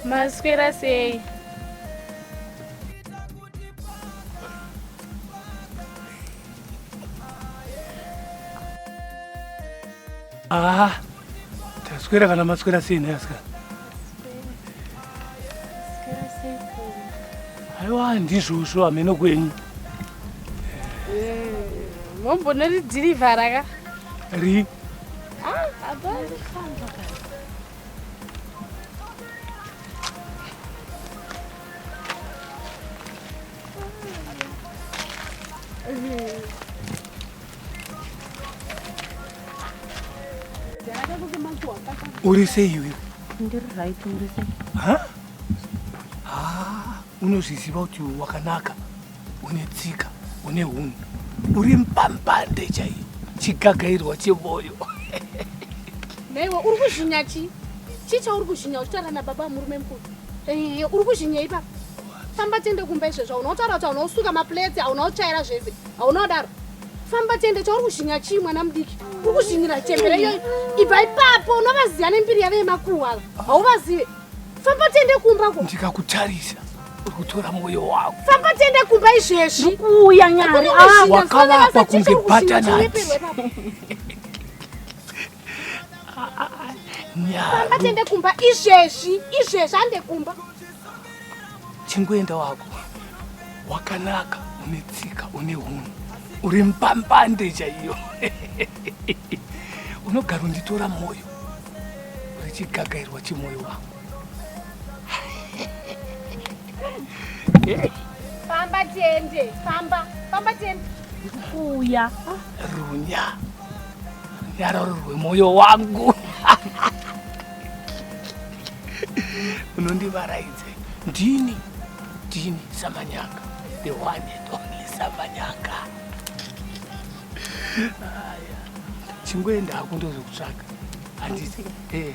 Maswera sei? Ah, taswera kana maswera sei nhasi kana? aiwa ndizvozvo hameno kwenyu mombona ridhirivhara ka ri uri sei iwewe ndiri right uri sei unozviziva kuti wakanaka une tsika une hunhu uri mpambande chaiyo chigagairwa chevoyo naiwe uri kuzvinya chi chii chauri kuzvinya uchitaura nababa murume mukuru uri kuzvinya ipapa famba tiende kumba izvezvo aunautaura kuti aunaosuka mapleti aunaotsvaira zvese hauna kudaro famba tiende chauri kuzhinya chii mwana mudiki uri kuzhinyira chembere iyoyi ibva ipapo unovaziva nembiri yave yemakuhwa ava hauvazive famba tiende kumba ko ndikakutarisa uri kutora mwoyo wako famba tiende kumba izvezvi kuuya nyari wakavapa kunge batanati Famba tiende kumba izvezvi, izvezvi ande kumba. Chingoenda wako. Wakanaka, une tsika, une hunhu. Uri mpambande chaiyo. Unogara unditora moyo. Uri chigagairwa chemoyo wangu. Famba tiende, famba, famba tiende. Kuya. Runya. yarororwe moyo wangu unondivaraidze ndini ndini samanyanga the one and only samanyanga chingoenda hako ndozokutsvaga handiti eh.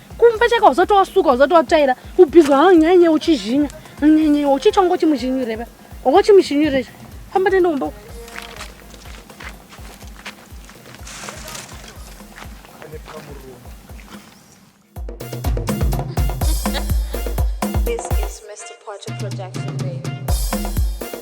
kumba chaka wazoti wasuka wazoti watsvaira ubhizwa ha nyenye uchizhinya nyenye uchicha ungo chimuzhinyure ba ungo chimuzhinyure famba tende kumba This is Mr. Potter Production Baby.